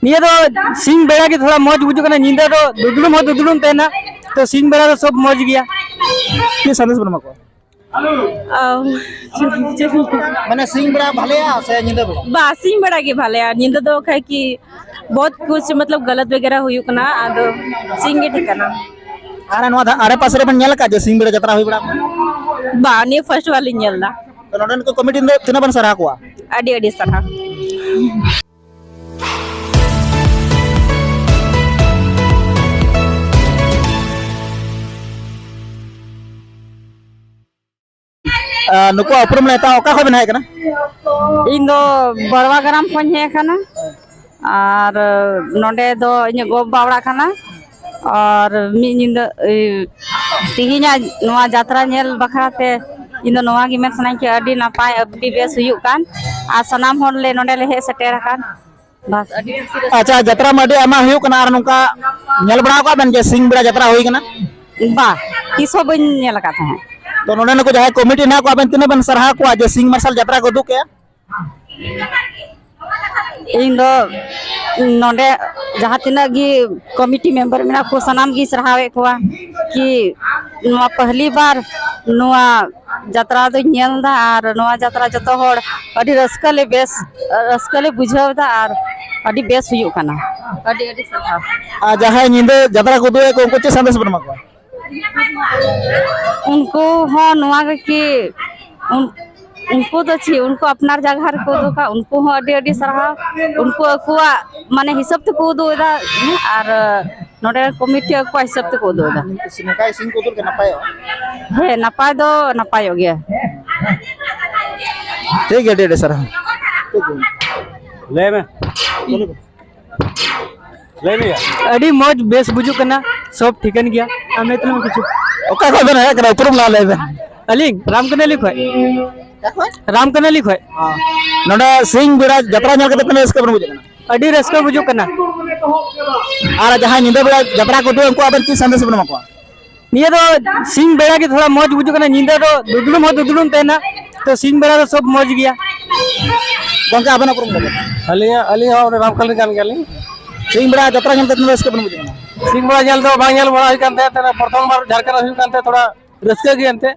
ᱱᱤᱭᱟᱹ ᱫᱚ ᱥᱤᱧ ᱵᱮᱲᱟ ᱜᱮ ᱛᱷᱚᱲᱟ ᱢᱚᱡᱽ ᱵᱩᱡᱩᱜ ᱠᱟᱱᱟ ᱧᱤᱫᱟᱹ ᱫᱚ ᱫᱩᱫᱲᱩᱢ ᱦᱚᱸ ᱫᱩᱫᱲᱩᱢ ᱛᱟᱦᱮᱱᱟ ᱛᱚ ᱥᱤᱧ ᱵᱮᱲᱟ ᱫᱚ ᱥᱚᱵ ᱢᱚᱡᱽ ᱜᱮᱭᱟ ᱪᱮᱫ ᱥᱟᱸᱫᱮᱥ ᱵᱚᱱ ᱮᱢᱟ ᱠᱚᱣᱟ ᱢᱟᱱᱮ ᱥᱤᱧ ᱵᱮᱲᱟ ᱵᱷᱟᱞᱮᱭᱟ ᱥᱮ ᱧᱤᱫᱟᱹ ᱵᱮᱲᱟ ᱵᱟ ᱥᱤᱧ ᱵᱮᱲᱟ ᱜᱮ ᱵᱷᱟᱞᱮᱭᱟ ᱧᱤᱫᱟᱹ ᱫᱚ ᱠᱷᱟᱡ ᱠᱤ ᱵᱚᱦᱩᱛ ᱠᱩᱪ ᱢᱚᱛᱞᱚᱵ ᱜᱟᱞᱟᱛ ᱵᱮᱜᱮᱨᱟ ᱦᱩᱭᱩᱜ ᱠᱟᱱᱟ ᱟᱫᱚ ᱥᱤᱧ ᱜᱮ ᱴᱷᱤᱠ ᱠᱟᱱᱟ ᱟᱨ ᱱᱚᱣᱟ ᱟᱨᱮ ᱯᱟᱥᱮ ᱨᱮ ᱵᱮᱱ ᱧᱮᱞ ᱟᱠᱟᱫ ᱡᱮ ᱥᱤᱧ ᱵᱮᱲᱟ ᱡᱟᱛᱨᱟ ᱦᱩᱭ ᱵᱟᱲᱟ ᱵᱟ ᱱᱤᱭᱟᱹ ᱯᱷᱟᱨᱥᱴ ᱵᱟᱨ ᱞᱤᱧ ᱧᱮᱞ ᱮᱫᱟ ᱱᱚᱰᱮᱱ ᱠᱚ ᱠᱚᱢᱤᱴᱤ ᱫᱚ ᱛᱤᱱᱟᱹᱜ ᱵᱮᱱ ᱥᱟᱨᱦᱟᱣ ᱠᱚᱣᱟ ᱟᱹᱰᱤ ᱟᱹᱰᱤ ᱥᱟᱨᱦᱟᱣ ᱱᱩᱠᱩ ᱩᱯᱨᱩᱢ ᱞᱮ ᱦᱟᱛᱟᱣ ᱚᱠᱟ ᱠᱷᱚᱱ ᱵᱮᱱ ᱦᱮᱡ ᱠᱟᱱᱟ ᱤᱧ ᱫᱚ ᱵᱟᱲᱣᱟ ᱜᱨᱟᱢ ᱠᱷᱚᱱ ᱦᱮᱡ ᱠᱟᱱᱟ ᱟᱨ ᱱᱚᱰᱮ ᱫᱚ ᱤᱧᱟᱹᱜ ᱜᱚ ᱵᱟᱵᱟ ᱚᱲᱟᱜ ᱠᱟᱱᱟ ᱟᱨ ᱢᱤᱫ ᱧᱤᱫᱟᱹ ᱛᱮᱦᱤᱧᱟᱜ ᱱᱚᱣᱟ ᱡᱟᱛᱨᱟ ᱧᱮᱞ ᱵᱟᱠᱷᱨᱟ ᱛᱮ ᱤᱧ ᱫᱚ ᱱᱚᱣᱟ ᱜᱮ ᱢᱮᱱ ᱥᱟᱱᱟᱧ ᱠᱟᱱᱟ ᱟᱹᱰᱤ ᱱᱟᱯᱟᱭ ᱟᱹᱰᱤ ᱵᱮᱥ ᱦᱩᱭᱩᱜ ᱠᱟᱱ ᱟᱨ ᱥᱟᱱᱟᱢ ᱦᱚᱲ ᱞᱮ ᱱᱚᱰᱮ ᱞᱮ ᱦᱮᱡ ᱥᱮᱴᱮᱨ ᱟᱠᱟᱱ ᱵᱟᱥ ᱟᱹᱰᱤ ᱟᱪᱪᱷᱟ ᱡᱟᱛᱨᱟ ᱢᱟ ᱟᱹᱰᱤ ᱟᱭᱢᱟ ᱦᱩᱭᱩᱜ ᱠᱟᱱᱟ ᱟᱨ ᱱᱚᱝᱠᱟ ᱧᱮᱞ ᱵᱟᱲᱟ ᱟᱠᱟᱫ ᱵᱮᱱ ᱡᱮ ᱥᱤᱧ ᱵᱮᱲᱟ ᱡᱟᱛᱨᱟ ᱦᱩᱭ ᱠᱟᱱᱟ ᱵᱟ ᱛᱤᱥ ᱦᱚᱸ ᱵᱟᱹᱧ ᱧᱮᱞ ᱟᱠᱟᱫ ᱛᱟᱦᱮᱸᱫ ᱛᱚ ᱱᱚᱰᱮ ᱱᱩᱠᱩ ᱡᱟᱦᱟᱸᱭ ᱠᱚᱢᱤᱴᱤ ᱦᱮᱱᱟᱜ ᱠᱚᱣᱟ ᱟᱵᱮᱱ ᱛᱤᱱᱟᱹᱜ ᱵᱮᱱ ᱥᱟᱨᱦᱟᱣ ᱠᱚᱣᱟ ᱡᱮ ᱥᱤᱧ ᱢᱟᱨᱥᱟᱞ ᱡᱟᱛᱨᱟ ᱠᱚ ᱩᱫᱩᱜ ᱠᱮᱜᱼᱟ ᱤᱧ ᱫᱚ ᱱᱚᱰᱮ ᱡᱟᱦᱟᱸ ᱛᱤᱱᱟᱹᱜ ᱜᱮ ᱠᱚᱢᱤᱴᱤ ᱢᱮᱢᱵᱟᱨ ᱢᱮᱱᱟᱜ ᱠᱚ ᱥᱟᱱᱟᱢ ᱜᱮ ᱥᱟᱨᱦᱟᱣᱮᱫ ᱠᱚᱣᱟ ᱠᱤ ᱱᱚᱣᱟ ᱯᱟᱦᱞᱤ ᱵᱟᱨ ᱱᱚᱣᱟ ᱡᱟᱛᱨᱟ ᱫᱚᱧ ᱧᱮᱞ ᱮᱫᱟ ᱟᱨ ᱱᱚᱣᱟ ᱡᱟᱛᱨᱟ ᱡᱚᱛᱚ ᱦᱚᱲ ᱟᱹᱰᱤ ᱨᱟᱹᱥᱠᱟᱹ ᱞᱮ ᱵᱮᱥ ᱨᱟᱹᱥᱠᱟᱹ ᱞᱮ ᱵᱩᱡᱷᱟᱹᱣ ᱮᱫᱟ ᱟᱨ ᱟᱹᱰᱤ ᱵᱮᱥ ᱦᱩᱭᱩᱜ ᱠᱟᱱᱟ ᱟᱹᱰᱤ ᱟᱹᱰᱤ ᱥᱟᱨᱦᱟᱣ ᱟᱨ ᱡᱟᱦᱟᱸᱭ ᱧᱤᱫᱟᱹ ᱡᱟᱛᱨᱟ ᱠᱚ ᱩᱫᱩᱜ ᱮᱫ ᱠᱚ ᱩᱱᱠᱩ ᱪᱮᱫ ᱥᱟᱸᱫᱮᱥ ᱵᱮᱱ ᱮᱢᱟ ᱠᱚᱣᱟ ᱩᱱᱠᱩ ᱦᱚᱸ ᱱᱚᱣᱟ ᱜᱮᱠᱤ ᱩᱱᱠᱩ ᱫᱚ ᱪᱮᱫ ᱩᱱᱠᱩ ᱟᱯᱱᱟᱨ ᱡᱟᱭᱜᱟ ᱨᱮᱠᱚ ᱩᱫᱩᱜᱟ ᱩᱱᱠᱩ ᱦᱚᱸ ᱟᱹᱰᱤ ᱟᱹᱰᱤ ᱥᱟᱨᱦᱟᱣ ᱩᱱᱠᱩ ᱟᱠᱚᱣᱟᱜ ᱢᱟᱱᱮ ᱦᱤᱥᱟᱹᱵ ᱛᱮᱠᱚ ᱩᱫᱩᱜ ᱮᱫᱟ ᱟᱨ ᱱᱚᱸᱰᱮ ᱠᱚᱢᱤᱴᱤ ᱟᱠᱚᱣᱟᱜ ᱦᱤᱥᱟᱹᱵ ᱛᱮᱠᱚ ᱩᱫᱩᱜ ᱮᱫᱟ ᱱᱚᱝᱠᱟ ᱤᱥᱤᱱ ᱠᱚ ᱩᱫᱩᱜ ᱞᱮᱠᱷᱟᱱ ᱱᱟᱯᱟᱭᱚᱜᱼᱟ ᱦᱮᱸ ᱱᱟᱯᱟᱭ ᱫᱚ ᱱᱟᱯᱟᱭᱚᱜ ᱜᱮᱭᱟ ᱴᱷᱤᱠ ᱜᱮᱭᱟ ᱟᱹᱰᱤ ᱟᱹᱰᱤ ᱥᱟᱨᱦᱟᱣ ᱞᱟᱹᱭ ᱢᱮ ᱞᱟᱹᱭ ᱢᱮᱭᱟ ᱟᱹᱰᱤ ᱢᱚᱡᱽ ᱵᱮᱥ ᱵᱩᱡᱩᱜ ᱠᱟᱱᱟ ᱥᱚᱵ ᱴᱷᱤᱠᱟᱹᱱ ᱜᱮᱭᱟ ᱟᱢ ᱞᱟᱹᱭ ᱛᱟᱞᱟᱝ ᱢᱮ ᱠᱤᱪᱷᱩ ᱚᱠᱟ ᱠᱷᱚᱡ ᱵᱮᱱ ᱦᱮᱡ ᱠᱟᱱᱟ ᱩᱯᱨᱩᱢ ᱞᱟᱦᱟ ᱞᱟᱹᱭ ᱵᱮᱱ ᱟᱹᱞᱤᱧ ᱨᱟᱢᱠᱟᱱᱟᱞᱤ ᱠᱷᱚᱡ ᱨᱟᱢᱠᱟᱱᱟᱞᱤ ᱠᱷᱚᱡ ᱱᱚᱰᱮ ᱥᱤᱧ ᱵᱮᱲᱟ ᱡᱟᱛᱨᱟ ᱧᱮᱞ ᱠᱟᱛᱮ ᱛᱤᱱᱟᱹᱜ ᱨᱟᱹᱥᱠᱟᱹ ᱵᱮᱱ ᱵᱩᱡᱷᱟᱹᱜ ᱠᱟᱱᱟ ᱟᱹᱰᱤ ᱨᱟᱹᱥᱠᱟᱹ ᱵᱩᱡᱩᱜ ᱠᱟᱱᱟ ᱟᱨ ᱡᱟᱦᱟᱸᱭ ᱧᱤᱫᱟᱹ ᱵᱮᱲᱟ ᱡᱟᱛᱨᱟ ᱠᱚ ᱩᱫᱩᱜ ᱩᱱᱠᱩ ᱟᱵᱮᱱ ᱪᱮᱫ ᱥᱟᱸᱫᱮᱥ ᱵᱮᱱ ᱮᱢᱟ ᱠᱚᱣᱟ ᱱᱤᱭᱟᱹ ᱫᱚ ᱥᱤᱧ ᱵᱮᱲᱟ ᱜᱮ ᱛᱷᱚᱲᱟ ᱢᱚᱡᱽ ᱵᱩᱡᱩᱜ ᱠᱟᱱᱟ ᱧᱤᱫᱟᱹ ᱫᱚ ᱫᱩᱫᱽᱲᱩᱢ ᱦᱚᱸ ᱫᱩᱫᱽᱲᱩᱢ ᱛᱟᱦᱮᱱᱟ ᱛᱚ ᱥᱤᱧ ᱵᱮᱲᱟ ᱫᱚ ᱥᱚᱵ ᱢᱚᱡᱽ ᱜᱮᱭᱟ ᱜᱚᱝᱠᱮ ᱟᱵᱮᱱᱟᱜ ᱯᱩᱨᱩᱢ ᱞᱟᱹᱭ ᱟᱹᱞᱤᱧ ᱟᱹᱞᱤᱧ ᱦᱚᱸ ᱨᱟᱢᱠᱟᱞ ᱨᱮᱱ ᱠᱟᱱ ᱜᱮᱭᱟᱞᱤᱧ ᱥᱤᱧ ᱵᱮᱲᱟ ᱡᱟᱛᱨᱟ ᱧᱮᱞ ᱛᱮ ᱛᱤᱱᱟᱹᱜ ᱨᱟᱹᱥᱠᱟᱹ ᱵᱮᱱ ᱵᱩᱡᱷᱟᱹᱣ ᱥᱤᱧ ᱵᱮᱲᱟ ᱧᱮᱞ ᱫᱚ ᱵᱟᱝ ᱧᱮᱞ ᱵᱟᱲᱟ ᱦᱩᱭ ᱠᱟᱱ ᱛᱟᱦᱮᱸᱫ ᱯᱨᱚᱛᱷᱚᱢ ᱵᱟᱨ ᱡᱷᱟᱲᱠᱷᱚᱸᱰ ᱦᱩᱭᱩᱜ ᱠᱟᱱ ᱛᱟᱦᱮᱸᱫ ᱛᱷᱚᱲᱟ ᱨᱟᱹᱥᱠᱟᱹ ᱜᱮ ᱮᱱᱛᱮᱫ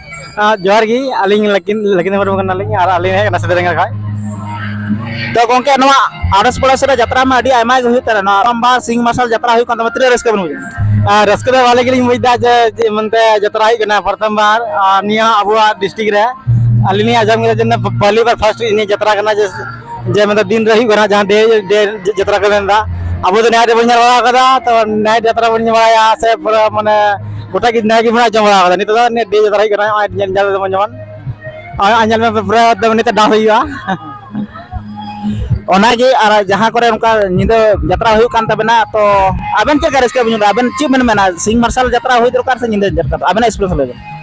ᱡᱚᱦᱟᱨ ᱜᱮ ᱟᱹᱞᱤᱧ ᱞᱟᱹᱠᱤᱱ ᱞᱟᱹᱠᱤᱱ ᱢᱩᱨᱢᱩ ᱠᱟᱱᱟᱞᱤᱧ ᱟᱨ ᱟᱹᱞᱤᱧ ᱦᱮᱡ ᱠᱟᱱᱟ ᱥᱤᱫᱟᱹᱨᱮᱸᱜᱟ ᱠᱷᱚᱡ ᱛᱚ ᱜᱚᱝᱠᱮ ᱱᱚᱣᱟ ᱟᱲᱚᱥ ᱯᱟᱲᱚᱥ ᱨᱮ ᱡᱟᱛᱨᱟ ᱢᱟ ᱟᱹᱰᱤ ᱟᱭᱢᱟ ᱜᱮ ᱦᱩᱭᱩᱜ ᱠᱟᱱᱟ ᱱᱚᱣᱟ ᱨᱟᱢᱵᱟ ᱥᱤᱝ ᱢᱟᱨᱥᱟᱞ ᱡᱟᱛᱨᱟ ᱦᱩᱭᱩᱜ ᱠᱟᱱ ᱛᱟᱢᱟ ᱛᱤᱱᱟᱹᱜ ᱨᱟᱹᱥᱠᱟᱹ ᱵᱮᱱ ᱵᱩᱡᱟ ᱟᱨ ᱨᱟᱹᱥᱠᱟᱹ ᱫᱚ ᱵᱷᱟᱞᱮ ᱜᱮᱞᱤᱧ ᱵᱩᱡᱫᱟ ᱡᱮ ᱡᱮ ᱢᱮᱱᱛᱮ ᱡᱟᱛᱨᱟ ᱦᱩᱭᱩᱜ ᱠᱟᱱᱟ ᱯᱨᱚᱛᱷᱚᱢ ᱵᱟᱨ ᱟᱨ ᱱᱤᱭᱟᱹ ᱟᱵᱚᱣᱟᱜ ᱰᱤᱥᱴᱤᱠ ᱨᱮ ᱟᱹᱞᱤᱧ ᱞᱤᱧ ᱟᱸᱡᱚᱢ ᱠᱮᱫᱟ ᱡᱮ ᱯᱟᱦᱞᱤ ᱵᱟᱨ ᱯᱷᱟᱥᱴ ᱤᱧᱟᱹᱜ ᱡᱟᱛᱨᱟ ᱠᱟᱱᱟ ᱡᱮ ᱡᱮ ᱢᱮᱱᱫᱟ ᱫᱤᱱ ᱨᱮ ᱦᱩᱭᱩᱜ ᱠᱟᱱᱟ ᱡᱟᱦᱟᱸ ᱰᱮ ᱰᱮ ᱡᱟᱛᱨᱟ ᱠᱚ ᱢᱮᱱᱫᱟ ᱟᱵᱚ ᱫᱚ ᱱᱟᱭ ᱨᱮᱵᱚᱱ ᱧᱮᱞ ᱵᱟᱲᱟ ᱟᱠᱟᱫᱟ ᱛᱚ ᱱᱟᱭ ᱡᱟᱛᱨᱟ ᱵᱚᱱ ᱧᱮᱞ ᱵᱟᱲᱟᱭᱟ ᱥᱮ ᱯᱩᱨᱟᱹ ᱢᱟᱱᱮ ᱜᱚᱴᱟ ᱜᱮ ᱱᱟᱭ ᱜᱮᱵᱚᱱ ᱟᱸᱡᱚᱢ ᱵᱟᱲᱟ ᱟᱠᱟᱫᱟ ᱱᱤᱛᱚᱜ ᱫᱚ ᱱᱤᱭᱟᱹ ᱰᱮ ᱡᱟᱛᱨᱟ ᱦᱩᱭᱩᱜ ᱠᱟᱱᱟ ᱱᱚᱜᱼᱚᱭ ᱧᱮᱞ ᱧᱮᱞ ᱫᱟᱵᱚᱱ ᱡᱮᱢᱚᱱ ᱱᱚᱜᱼᱚᱭ ᱧᱮᱞ ᱢᱮ ᱯᱩᱨᱟᱹ ᱮᱠᱫᱚᱢ ᱱᱤᱛᱚᱜ ᱰᱟᱱᱥ ᱦᱩᱭᱩᱜᱼᱟ ᱚᱱᱟᱜᱮ ᱟᱨ ᱡᱟᱦᱟᱸ ᱠᱚᱨᱮ ᱚᱱᱠᱟ ᱧᱤᱫᱟᱹ ᱡᱟᱛᱨᱟ ᱦᱩᱭᱩᱜ ᱠᱟᱱ ᱛᱟᱵᱮᱱᱟ ᱛᱚ ᱟᱵᱮᱱ ᱪᱮᱫ ᱞᱮᱠᱟ ᱨᱟᱹᱥᱠᱟᱹ ᱵᱮᱱ ᱧᱟᱢ ᱮᱫᱟ ᱟᱵᱮᱱ ᱪᱮᱫ ᱵᱮᱱ ᱢᱮᱱᱟ ᱥᱤᱧ ᱢᱟᱨᱥᱟᱞ ᱡᱟᱛᱨᱟ ᱦᱩᱭ ᱫᱚᱨᱠᱟᱨ ᱥᱮ ᱧᱤᱫᱟᱹ ᱡᱟᱛᱨᱟ ᱟᱵᱮᱱᱟᱜ ᱮᱠᱥᱯᱨᱮᱥ ᱞᱟᱹᱭ ᱵᱮᱱ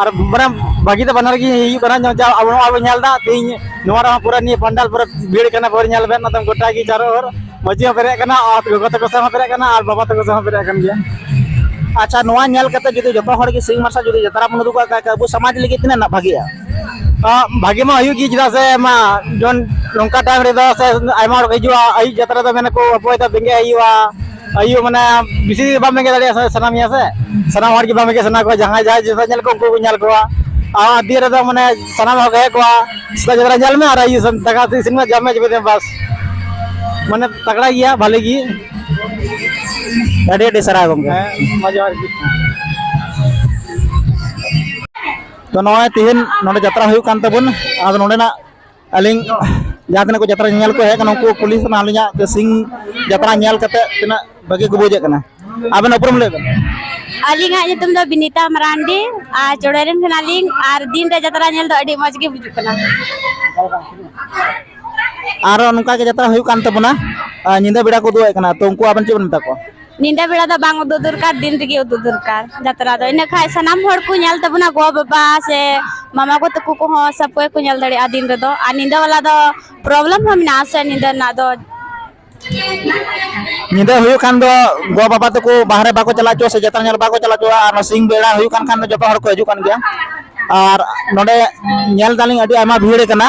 ᱟᱨ ᱢᱟᱱᱮ ᱵᱷᱟᱹᱜᱤ ᱫᱚ ᱵᱟᱱᱟᱨ ᱜᱮ ᱦᱩᱭᱩᱜ ᱠᱟᱱᱟ ᱧᱚᱜ ᱡᱟ ᱟᱵᱚ ᱱᱚᱣᱟ ᱵᱚᱱ ᱧᱮᱞ ᱮᱫᱟ ᱛᱮᱦᱤᱧ ᱱᱚᱣᱟ ᱨᱮᱦᱚᱸ ᱯᱩᱨᱟᱹ ᱱᱤᱭᱟᱹ ᱯᱟᱱᱰᱟᱞ ᱯᱩᱨᱟᱹ ᱵᱷᱤᱲ ᱠᱟᱱᱟ ᱯᱩᱨᱟᱹ ᱧᱮᱞ ᱵᱮᱱ ᱟᱫᱚ ᱜᱚᱴᱟ ᱜᱮ ᱪᱟᱨᱚ ᱦᱚᱨ ᱢᱟᱹᱡᱷᱤ ᱦᱚᱸ ᱯᱮᱨᱮᱡ ᱠᱟᱱᱟ ᱟᱨ ᱜᱚᱜᱚ ᱛᱟᱠᱚ ᱥᱮᱫ ᱦᱚᱸ ᱯᱮᱨᱮᱡ ᱠᱟᱱᱟ ᱟᱨ ᱵᱟᱵᱟ ᱛᱟᱠᱚ ᱥᱮᱫ ᱦᱚᱸ ᱯᱮᱨᱮᱡ ᱠᱟᱱ ᱜᱮᱭᱟ ᱟᱪᱪᱷᱟ ᱱᱚᱣᱟ ᱧᱮᱞ ᱠᱟᱛᱮ ᱡᱩᱫᱤ ᱡᱚᱛᱚ ᱦᱚᱲ ᱜᱮ ᱥᱤᱧ ᱢᱟᱨᱥᱟᱞ ᱡᱩᱫᱤ ᱡᱟᱛᱨᱟ ᱵᱚᱱ ᱩᱫᱩᱜᱟ ᱠᱷᱟᱡ ᱟᱵᱚ ᱥᱚᱢᱟᱡᱽ ᱞᱟᱹᱜᱤᱫ ᱛᱤᱱᱟᱹᱜ ᱱᱟᱜ ᱵᱷᱟᱜᱮᱜᱼᱟ ᱵᱷᱟᱜᱮ ᱢᱟ ᱦᱩᱭᱩᱜ ᱜᱮ ᱪᱮᱫᱟᱜ ᱥᱮ ᱢᱟ ᱡᱮᱢᱚᱱ ᱱᱚᱝᱠᱟ ᱴᱟᱭᱤᱢ ᱨᱮᱫᱚ ᱥᱮ ᱟᱭᱢᱟ ᱦᱚᱲ ᱠᱚ ᱦᱤᱡᱩᱜᱼᱟ ᱟᱹᱭᱩᱵ ᱡᱟᱛᱨᱟ ᱫᱚ ᱢᱮᱱᱟᱠᱚ ᱚᱠᱚᱭ ᱫᱚ ᱵᱮᱸᱜᱮᱫ ᱦᱩᱭᱩᱜᱼᱟ ᱟᱭᱩ ᱢᱟᱱᱮ ᱵᱤᱥᱤ ᱵᱟᱢ ᱵᱮᱸᱜᱮᱫ ᱫᱟᱲᱮᱭᱟᱜᱼᱟ ᱥᱟᱱᱟᱢᱤᱭᱟ ᱥᱮ ᱥᱟᱱᱟᱢ ᱦᱚᱲ ᱜᱮ ᱵᱟᱢ ᱵᱮᱸᱜᱮᱫ ᱥᱟᱱᱟ ᱠᱚᱣᱟ ᱡᱟᱦᱟᱸᱭ ᱡᱟᱦᱟᱸᱭ ᱡᱚᱛᱚ ᱧᱮᱞ ᱠᱚ ᱩᱱᱠᱩ ᱠᱚ ᱧᱮᱞ ᱠᱚᱣᱟ ᱟᱨ ᱟᱹᱰᱤ ᱨᱮᱫᱚ ᱢᱟᱱᱮ ᱥᱟᱱᱟᱢ ᱦᱚᱲ ᱦᱮᱡ ᱠᱚᱣᱟ ᱥᱮᱛᱟᱜ ᱡᱚᱛᱚ ᱧᱮᱞ ᱢᱮ ᱟᱨ ᱟᱭᱩ ᱫᱟᱠᱟ ᱩᱛᱩ ᱤᱥᱤᱱ ᱢᱮ ᱡᱚᱢ ᱢᱮ ᱡᱚᱢ ᱵᱟᱥ ᱢᱟᱱᱮ ᱛᱟᱜᱲᱟ ᱜᱮᱭᱟ ᱵᱷᱟᱞᱮ ᱜᱮ ᱟᱹᱰᱤ ᱟᱹᱰᱤ ᱥᱟᱨᱦᱟᱣ ᱜᱚᱢᱠᱮ ᱢᱟ ᱡᱚᱦᱟᱨ ᱜᱮ ᱛᱚ ᱱᱚᱜᱼᱚᱭ ᱛᱤᱦᱤᱧ ᱱᱚᱰᱮ ᱡᱟᱛᱨᱟ ᱦᱩᱭᱩᱜ ᱠᱟᱱ ᱛᱟᱵᱚᱱ ᱟᱫᱚ ᱱᱚᱰᱮᱱᱟᱜ ᱟᱹᱞᱤᱧ ᱡᱟᱦᱟᱸ ᱛᱤᱱᱟᱹᱜ ᱠᱚ ᱡᱟᱛᱨᱟ ᱧᱮᱧᱮᱞ ᱠᱚ ᱦᱮᱡ ᱠᱟᱱᱟ ᱩᱱᱠᱩ ᱠᱩᱞᱤ ᱥᱟᱱᱟ ᱟᱹᱞᱤᱧᱟᱜ ᱡᱮ ᱥᱤᱧ ᱡᱟᱛᱨᱟ ᱧᱮᱞ ᱠᱟᱛᱮ ᱛᱤᱱᱟᱹᱜ ᱵᱷᱟᱹᱜᱤ ᱠᱚ ᱵᱩᱡᱮᱫ ᱠᱟᱱᱟ ᱟᱵᱮᱱ ᱩᱯᱨᱩᱢ ᱞᱟᱹᱭ ᱵᱮᱱ ᱟᱹᱞᱤᱧᱟᱜ ᱧᱩᱛᱩᱢ ᱫᱚ ᱵᱤᱱᱤᱛᱟ ᱢᱟᱨᱟᱱᱰᱤ ᱟᱨ ᱪᱚᱲᱮ ᱨᱮᱱ ᱠᱟᱱᱟᱞᱤᱧ ᱟᱨ ᱫᱤᱱ ᱨᱮ ᱡᱟᱛᱨᱟ ᱧᱮᱞ ᱫᱚ ᱟᱹᱰᱤ ᱢᱚᱡᱽ ᱜᱮ ᱵᱩᱡᱩᱜ ᱠᱟᱱᱟ ᱟᱨᱚ ᱱᱚᱝᱠᱟ ᱜᱮ ᱡᱟᱛᱨᱟ ᱦᱩᱭᱩᱜ ᱠᱟᱱ ᱛᱟᱵᱚᱱᱟ ᱟᱨ ᱧᱤᱫᱟᱹ ᱵᱮᱲᱟ ᱠᱚ ᱩᱫᱩᱜ ᱟᱭ ᱠᱟᱱᱟ ᱛᱚ ᱩᱱᱠᱩ ᱟᱵᱮᱱ ᱪᱮᱫ ᱵᱮᱱ ᱢᱮᱛᱟ ᱠᱚᱣᱟ ᱧᱤᱫᱟᱹ ᱵᱮᱲᱟ ᱫᱚ ᱵᱟᱝ ᱩᱫᱩᱜ ᱫᱚᱨᱠᱟᱨ ᱫᱤᱱ ᱨᱮᱜᱮ ᱩᱫᱩᱜ ᱫᱚᱨᱠᱟᱨ ᱡᱟᱛᱨᱟ ᱫᱚ ᱤᱱᱟᱹ ᱠᱷᱟᱱ ᱥᱟᱱᱟᱢ ᱦᱚᱲ ᱠᱚ ᱧᱮᱞ ᱛᱟᱵᱚᱱᱟ ᱜᱚ ᱵᱟᱵᱟ ᱥᱮ ᱢᱟᱢᱟ ᱜᱚ ᱛᱟᱠᱚ ᱠᱚᱦᱚᱸ ᱥᱚᱵ ᱠᱚ ᱠᱚ ᱧᱮᱞ ᱫᱟᱲᱮᱭᱟᱜᱼᱟ ᱫᱤᱱ ᱨᱮᱫᱚ ᱟᱨ ᱧᱤᱫᱟᱹ ᱵᱮᱞᱟ ᱫᱚ ᱯᱨᱚᱵᱞᱮᱢ ᱦᱚᱸ ᱢᱮᱱᱟᱜ ᱟᱥᱮ ᱧᱤᱫᱟᱹ ᱨᱮᱱᱟᱜ ᱫᱚ ᱧᱤᱫᱟᱹ ᱦᱩᱭᱩᱜ ᱠᱷᱟᱱ ᱫᱚ ᱜᱚ ᱵᱟᱵᱟ ᱛᱟᱠᱚ ᱵᱟᱦᱨᱮ ᱵᱟᱠᱚ ᱪᱟᱞᱟᱜ ᱪᱚ ᱥᱮ ᱡᱟᱛᱨᱟ ᱧᱮᱞ ᱵᱟᱠᱚ ᱪᱟᱞᱟᱜ ᱪᱚ ᱟᱨ ᱥᱤᱧ ᱵᱮᱲᱟ ᱦᱩᱭᱩᱜ ᱠᱟᱱ ᱠᱷᱟᱱ ᱫᱚ ᱡᱚᱛᱚ ᱦᱚᱲ ᱠᱚ ᱦᱤᱡᱩᱜ ᱠᱟᱱ ᱜᱮᱭᱟ ᱟᱨ ᱱᱚᱰᱮ ᱧᱮᱞ ᱫᱟᱞᱤᱧ ᱟᱹᱰᱤ ᱟᱭᱢᱟ ᱵᱷᱤᱲ ᱠᱟᱱᱟ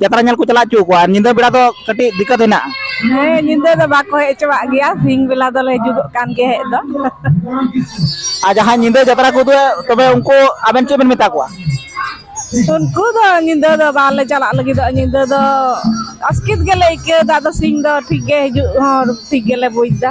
ᱡᱟᱛᱨᱟ ᱧᱮᱞ ᱠᱚ ᱪᱟᱞᱟᱣ ᱦᱚᱪᱚ ᱠᱚᱣᱟ ᱧᱤᱫᱟᱹ ᱵᱮᱲᱟ ᱫᱚ ᱠᱟᱹᱴᱤᱡ ᱫᱤᱠᱠᱟᱛ ᱦᱮᱱᱟᱜᱼᱟ ᱦᱮᱸ ᱧᱤᱫᱟᱹ ᱫᱚ ᱵᱟᱠᱚ ᱦᱮᱡ ᱦᱚᱪᱚᱣᱟᱜ ᱜᱮᱭᱟ ᱥᱤᱧ ᱵᱮᱞᱟ ᱫᱚᱞᱮ ᱦᱤᱡᱩᱜᱚᱜ ᱠᱟᱱ ᱜᱮᱭᱟ ᱦᱮᱡ ᱫᱚ ᱟᱨ ᱡᱟᱦᱟᱸᱭ ᱧᱤᱫᱟᱹ ᱡᱟᱛᱨᱟ ᱠᱚ ᱩᱫᱩᱜᱟ ᱛᱚᱵᱮ ᱩᱱᱠᱩ ᱟᱵᱮᱱ ᱪᱮᱫ ᱵᱮᱱ ᱢᱮᱛᱟ ᱠᱚᱣᱟ ᱩᱱᱠᱩ ᱫᱚ ᱧᱤᱫᱟᱹ ᱫᱚ ᱵᱟᱞᱮ ᱪᱟᱞᱟᱜ ᱞᱟᱹᱜᱤᱫᱚᱜᱼᱟ ᱧᱤᱫᱟᱹ ᱫᱚ ᱟᱥᱠᱮᱛ ᱜᱮᱞᱮ ᱟᱹᱭᱠᱟᱹᱣᱫᱟ ᱟᱫᱚ ᱥᱤᱧ ᱫᱚ ᱴᱷᱤᱠ ᱜᱮ ᱦᱤᱡᱩᱜ ᱦᱚᱸ ᱴᱷᱤᱠ ᱜᱮᱞᱮ ᱵᱩᱡᱽᱫᱟ